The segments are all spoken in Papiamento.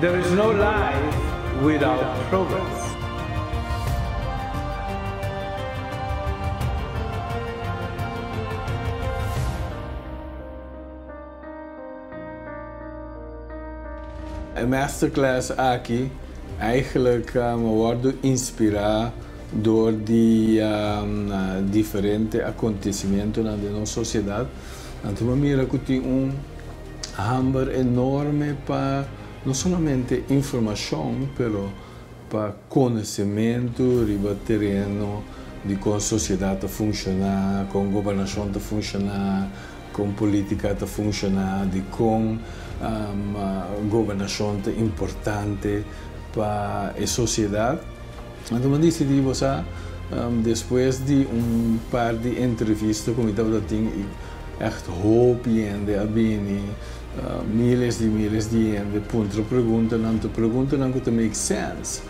There is no life without progress. E masterclass aki eigenlijk me wordo inspira door di diferente acontecimientonan den nos sociedad. Anto me mira cu tin un. Hamber enorme pa no solamente informacion pero pa conocimentu riba tereno di con sociedad ta funciona, con gobernacion ta funciona, con politica ta funciona, di con gobernacion ta importante pa e sociedad. Anto mi disidí bo sa, despues di un par di entrevista ku mi tabata tin i ègt hopi hende a bini, míles di míles di hende puntra preguntanan, tur preguntanan ku ta make sèns.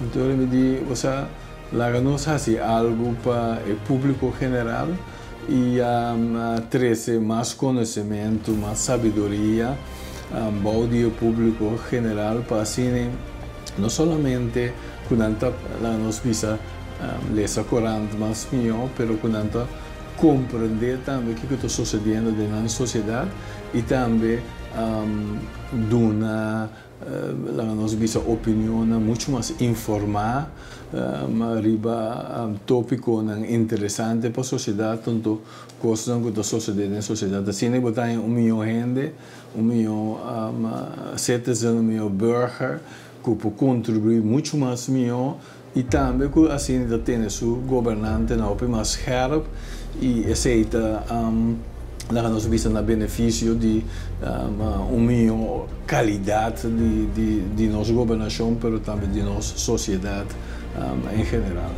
Anto mi di bo sa, laga nos hasi algu pa e públiko general. I a trese mas konosementu, mas sabiduria bou di e públiko general pa asina no solamente ku nan ta laga nos bisa lesa korant mas mihó pero ku nan ta komprendé tambe kiko ta sosediendo den nan sosiedat i tambe duna Laga nos bisa opinionnan muchu mas informá, ma riba tópikonan interesante pa sosiedat, tantu kosnan ku ta sosodé den sosiedat. Asina i bo ta haña un mihó hende, un mihó citizen, un mihó burger ku por kontribuí muchu mas mihó y tambe cu asina ta tene su gobernantenan hopi mas scherp y esey ta laga nos bista na beneficio di un mijo calidad di nos gobernacion pero tambe di nos sociedad en general.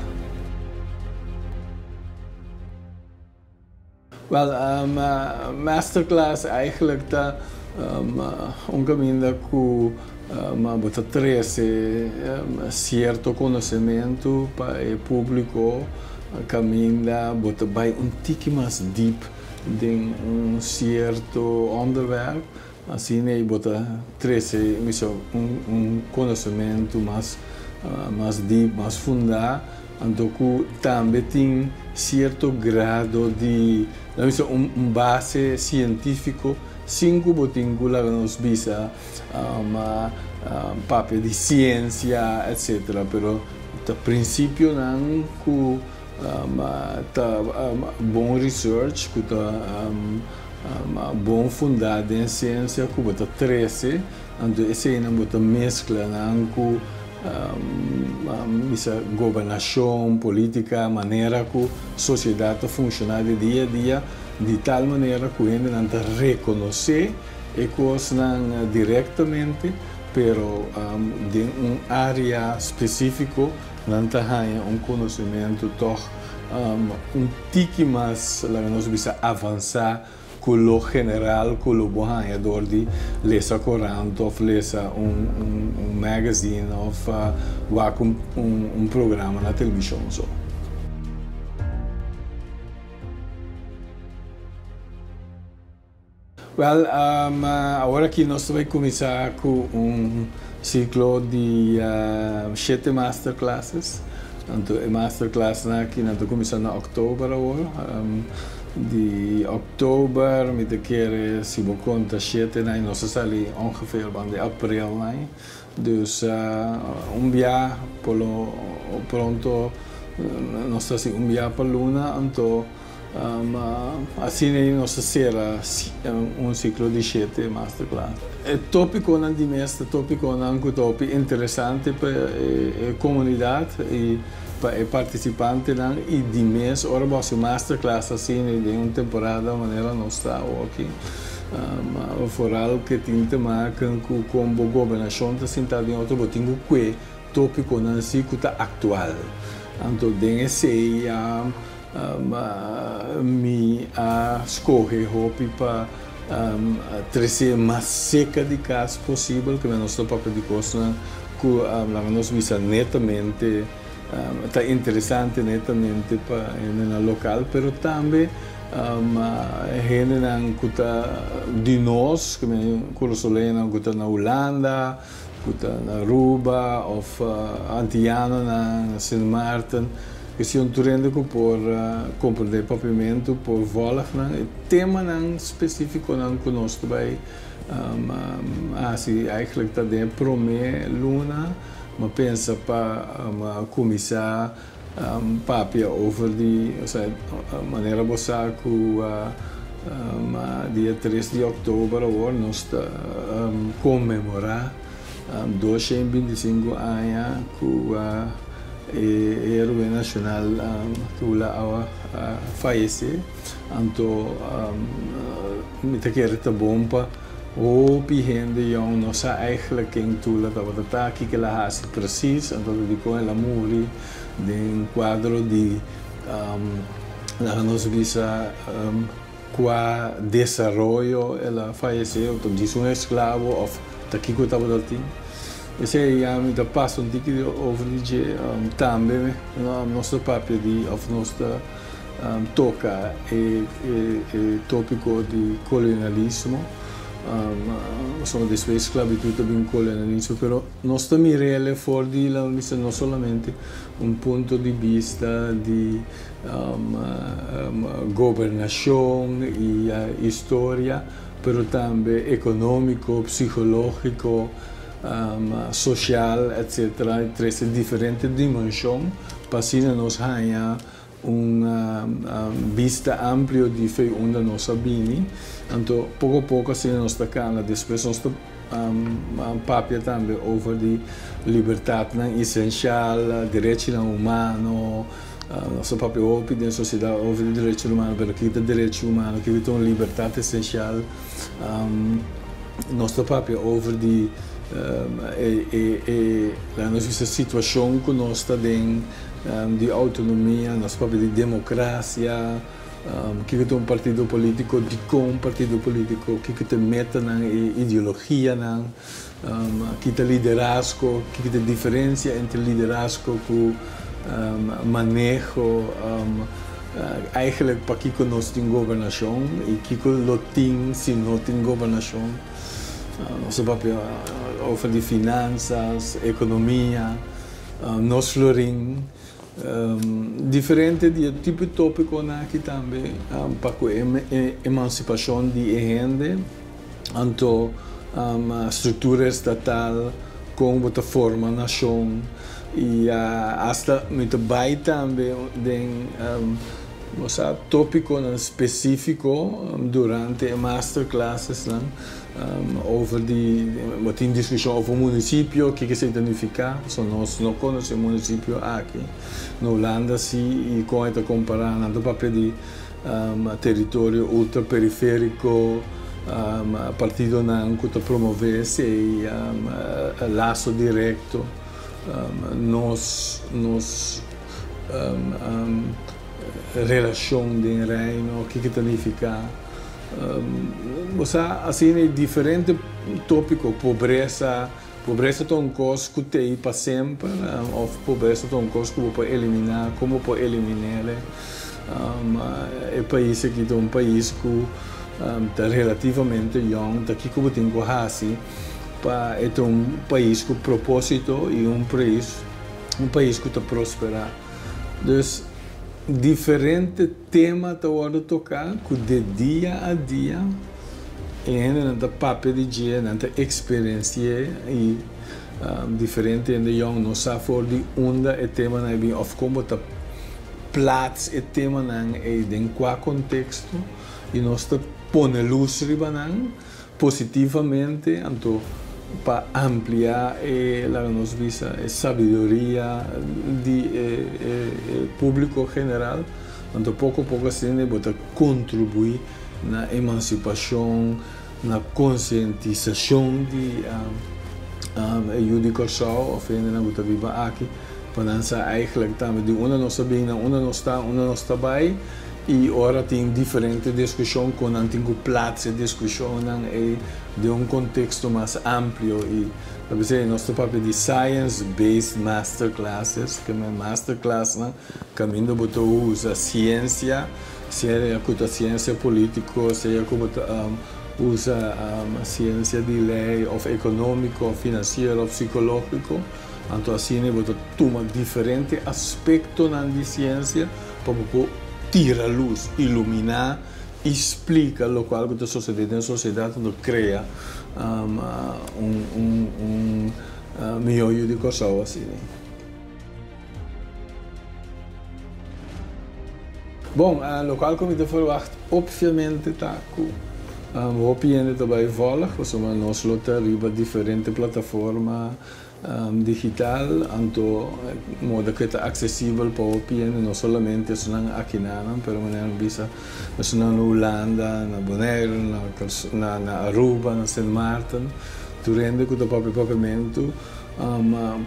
Wel, masterclass eigenlijk ta un caminda cu bo ta trece cierto conocemento pa e publico caminda bo ta bay un tiki mas diep den un cierto onderwerp Asina ei bo ta trese mishor un konosementu mas dip, mas fundá, anto ku tambe tin sierto grado di, la mi se, un base sientífiko, sin ku bo tin ku laga nos bisa ma papia di siensia, etcétera. Pero ta prinsipionan ku. Ta bon research ku ta bon fundá den siensia ku bo ta trese, anto eseinan bo ta meskla nan ku bisa gobernashon, polítika, manera ku sosiedat ta funshoná di dia a dia, di tal manera ku hendenan ta rekonosé e kosnan direktamente, pero den un área spesífiko. Nan ta haña un konosementu tòg un tiki mas, laga nos bisa, avansá ku lo general ku lo bo haña dor di lesa korant òf lesa un magazine òf wak un programa na televishon so. Wel, awor aki nos ta bai kuminsá ku un siklo di shete masterclasses. Anto e masterclassnan aki nan ta kuminsá na òktober awor. Di òktober mi ta kere, si bo konta, shetenan i nos a sali ongefeer band'e aprelnan. Dus un bia por lo pronto nos ta hasi un bia pa luna, anto asina nos ta sera un ciclo di shete masterclass. E topiconan di mes ta topiconan cu ta hopi interesante pa e comunidad y pa e participantenan y di mes ora bo hasi masterclass asina den un temporada manera nos ta awo aki, Foral ke tin te maka ku kon bo gobernashon ta sintá den otro bo tin ku kue tópikonan si ku ta aktual. Anto den esei ya mi a skohe hopi pa tresé mas seka di kas posibel, kende nos ta papia di kosnan ku laga nos bisa netamente. Ta interesante netamente pa hendenan local, pero tambe pa hendenan cu ta di nos, cu nan Curasoleñonan cu ta na Hulanda, cu ta na Aruba of Antillanonan na Sint Maarten. Esun tur hende cu por comprende e papiamento, por volg nan e temanan specificonan cu nos ta bay haci, eigenlijk ta den e prome luna. M'a pensa pa m'a cuminsá papia over di, osea, manera bo sa cu m'a dia tres di october awor nos ta conmemorá dosha i binticinco aña cu e heroe nacional Tula Awa a fayecé. Anto mi ta kere ta bon pa. Hopi hende yòn no sa ègla ken Tula tabata ta, kik'el a hasi presis, anto ta dikon el a muri. Den kuadro di laga nos bisa kua desaroyo el a fayesé, o ta disa un esklavo òf ta kiko tabata tin. Esei ya mi ta pasa un tiki di over di dje. Tambe nos ta papia di òf nos ta. toca e topico di colonialismo ozoma despues di sclavitud ta bin colonialismo pero nos ta mirele for di la mester no solamente un punto di bista di gobernacion y historia pero tambe economico, psicologico, social etc trece diferente dimension pa asina nos haya. Un bista amplio di fe unda nos a bini. Anto poko poko asina nos ta cana. Despues nos ta papia tambe over di libertadnan esencial, derechinan humano. Nos a papia hopi den sociedad over di derechinan humano, pero ki ta derechi humano? Kico ta un libertad esencial? Nos ta papia over di e, laga nos bisa, situacion cu nos ta den. di autonomia, nos papia di democracia, kiko ta un partido politico, dicon un partido politico, kiko ta e metanan, e ideologianan, ki ta liderazgo, kiko ta e diferencia entre liderazgo cu maneho, eigenlijk pakiko nos tin gobernacion y kiko lo tin si no tin gobernacion, nos a papia over di finanzas, economia. Nos lo rin diferente di e tipo topiconan aki tambe pa cu e emancipacion di e hende anto structura estatal, con bo ta forma nacion y hasta mi ta bay tambe den topiconan specifico durante e masterclassesnan. Over di bo tin diskushon over un munisipio, kiko esei ta nifiká? So nos no konosé munisipio aki. Na Hulanda sí, i kon e ta kompará? Nan ta papia di teritorio ultraperifériko, partidonan ku ta promové esei laso direkto. Nos nos relashon den Reino, kiko ta nifiká? Bo sa asina e diferente topiko, pobresa, pobresa ta un kos ku ta i pa semper of pobresa ta un kos ku bo por eliminá, kon bo por eliminéle. E pais aki ta un pais ku ta relativamente yòn, ta kiko bo tin ku hasi pa e ta un pais ku propósito i un pais ku ta prosperá. Dus diferente. Tema ta wordo toká ku de dia a dia e hendenan ta papia di dje, nan ta eksperensié i diferente hende yòn no sa for di unda e temanan a bin òf kon bo ta plats e temanan ei den kua konteksto i nos ta pone lus riba nan. positivamente, anto pa ampliá e laga nos bisa e sabiduria di e públiko general, anto poko poko asina e bo ta kontribuí na emansipashon, na konsientisashon di e yu di Kòrsou òf hendenan ku ta biba aki, pa nan sa, Eigelik tambe di unda nos a bini, unda nos ta, unda nos ta bai, I ora tin diferente diskushon ku nan tin ku plats e diskushonnan ei den un konteksto mas amplio i ta p'esei nos ta papia di science based masterclasses ke men masterclassnan kaminda bo ta usa siensia sea ku ta siensia polítiko sea ku bo ta usa siensia di lei òf ekonómiko òf finansiero òf sikológiko. Anto asina bo ta tuma diferente aspektonan di siensia pa bo por tira lus, iluminá i splika lokual ku ta sosodé den sosiedat anto krea un mihó yu di Kòrsou asina. Bon, lokual ku mi ta ferwagt opviamente ta ku hopi hende ta bai vòlg pasobra nos lo ta riba diferente plataforma. Digital, anto moda ke ta aksesibel pa hopi hende, no solamente esunnan akinanan, pero manera mi bisa esunnan na Hulanda, na Bonaire, na Aruba, na Sint Maarten, tur hende ku ta papia papiamentu,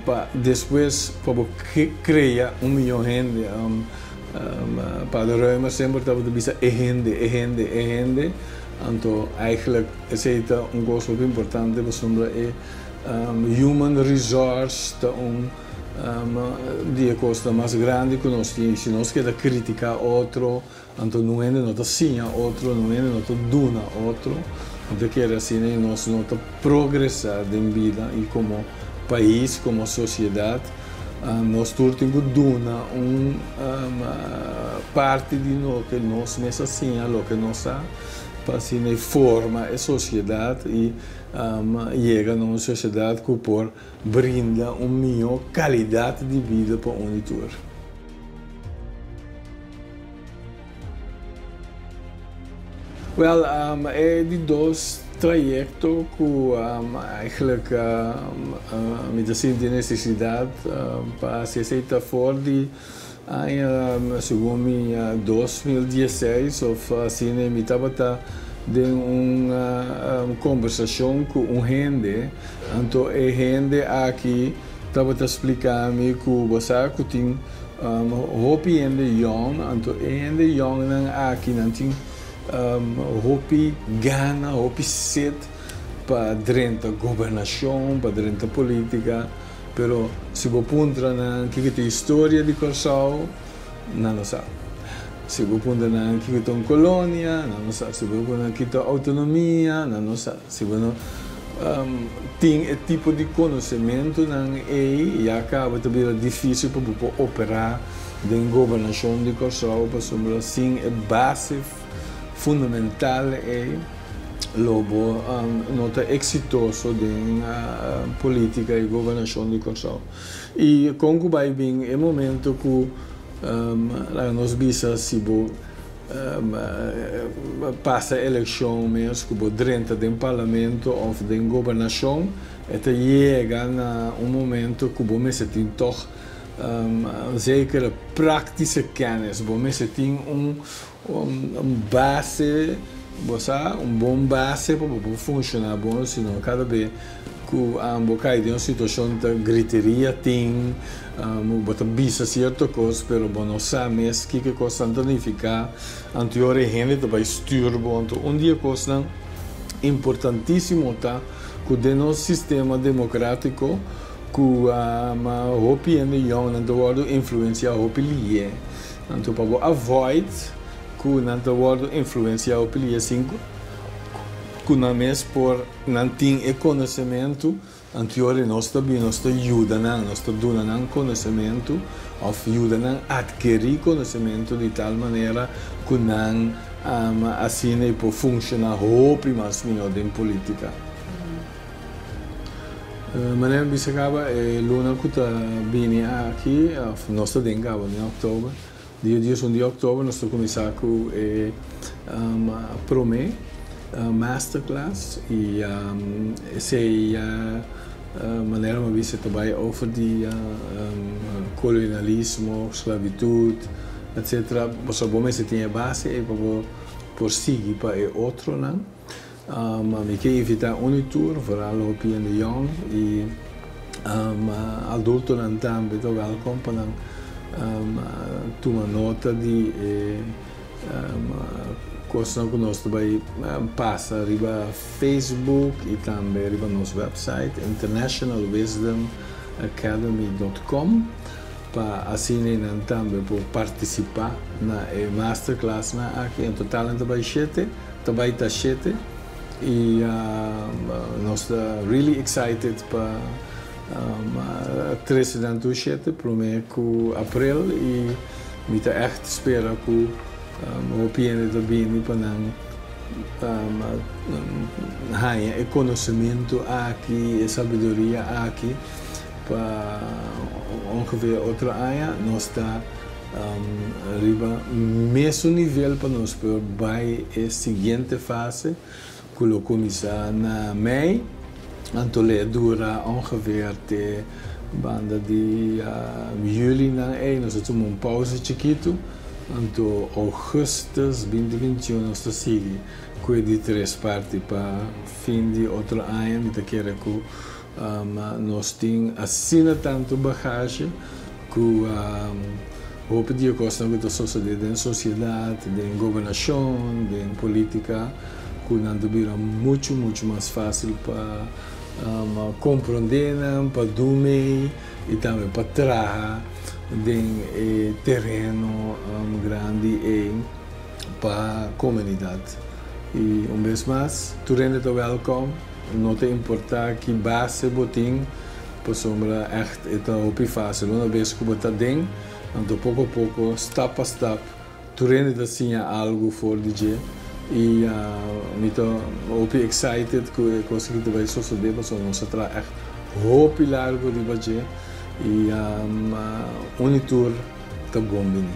pa despues pa bo krea un miyon hende. Pader Ruymer semper tabata bisa e hende, e hende, e hende, anto eigenlijk esei ta un kos hopi importante pasobra e. Human resource ta un di e kosnan mas grandi ku nos tin. Si nos keda kritiká otro, anto no hende no ta siña otro, no hende no ta duna otro. Nan ta kere asina i nos no ta progresá den bida. I komo pais, komo sosiedat, nos tur tin ku duna un parti di loke nos mes a siña, loke nos ta, pa asina e forma e sosiedat. Alma yega na un sociedad cu por brinda un miho calidad di vida pa un di tur. Wel, e di dos trayecto cu eigenlijk mi ta sinti necesidad pa haci esey ta for di. Aña segun mi dos mil dieseis of asina mi tabata den un kombersacion cu un hende anto e hende aki tabata splica mi cu bo sa cu tin hopi hende yong anto e hende yong nan aki nan tin hopi gana hopi set pa drenta gobernacion pa drenta politica. Pero si bo puntra nan kiko ta historia di Kòrsou, nan no sa. Si bo puntra nan kiko ta un kolonia, nan no sa. Si bo puntra nan kiko ta outonomia, nan no sa. Si bo no tin e tipo di konosementunan ei, ya kaba ta bira difísil pa bo por operá den gobernashon di Kòrsou, pasobra sin e base fundamental ei, Lobo no ta exitoso den politica y gobernacion di Corsou. Y con cu bay bin e momento cu laga nos bisa si bo pasa eleccion mes cu bo drenta den parlamento of den gobernacion e ta yega na un momento cu bo mester tin toch zekere practische kennis, bo mester tin un Un base, bo sa, un bon base pa bo por funciona bon osino cada be cu bo cay den un situacion ta griteria tin, bo ta bisa cierto cos pero bo no sa mes kico cos tan ta nifica, anteor e hende ta bay stuur bo, anto un di e cosnan importantisimo ta cu den nos sistema democratico cu hopi hende yongnan ta wordo influencia hopi liye. Anto pa bo avoid cu nan ta wordo influenciao p'e lia sinku, cu nan mes por nan tin e conocemento, anto ora di nos ta bini nos ta yuda nan, nos ta duna nan conocemento of yuda nan adkeri conocemento di tal manera cu nan asina e por funciona hopi mas miho den politica. Manera mi bisa caba e luna cu ta bini aki, of nos ta den caba den October, dia dies un di October nos ta cuminsa cu e prome masterclass y esey ya manera mi a bisa ta bay over di colonialismo, sclavitud, etcetera, pasobra bo mester tin e base ey pa bo por sigui pa e otronan. Mi ke invita uni tur, vooral hopi hende yong y adultonan tambe ta welkom pa nan tuma nota di e cosnan cu nos ta bay pasa riba Facebook y tambe riba nos website internationalwisdomacademy.com pa asina e nan tambe por participa na e masterclassnan aki. En total nan ta bay shete. Ta bai ta shete y nos ta really excited pa trece nan tur shete prome cu April y mi ta echt spera cu hopi hende ta bini pa nan haya e conocemento aki e sabiduria aki pa ongeveer otro aña nos ta. Riba mesun nivel pa nos por bai e siguiente fase cu lo cuminsa na mei, anto lo e dura ongeveer te banda di juli nan ey. Nos ta tuma un pausa chikito, anto augustus binti bintiun nos ta sigui cu e di tres parti pa fin di otro aña mi ta kere cu Ma nos tin asina tantu bagashi ku hopi di e kosnan ku ta sosodé den sosiedat, den gobernashon, den polítika ku nan ta bira muchu, muchu mas fásil pa komprondé nan, pa dun mei i tambe pa traha den e tereno grandi ei pa komunidat. I un bes mas, tur hende ta wèlkom. No ta importa ki base bo tin, pasobra ègt e ta hopi fásil. Una bes ku bo ta den, anto poko a poko, stap pa stap, tur hende ta siña algu for di dje. I mi ta hopi excited ku e kos aki ta bai sosodé, pasobra nos a traha ègt hopi largu riba dje i uni tur ta bon bini.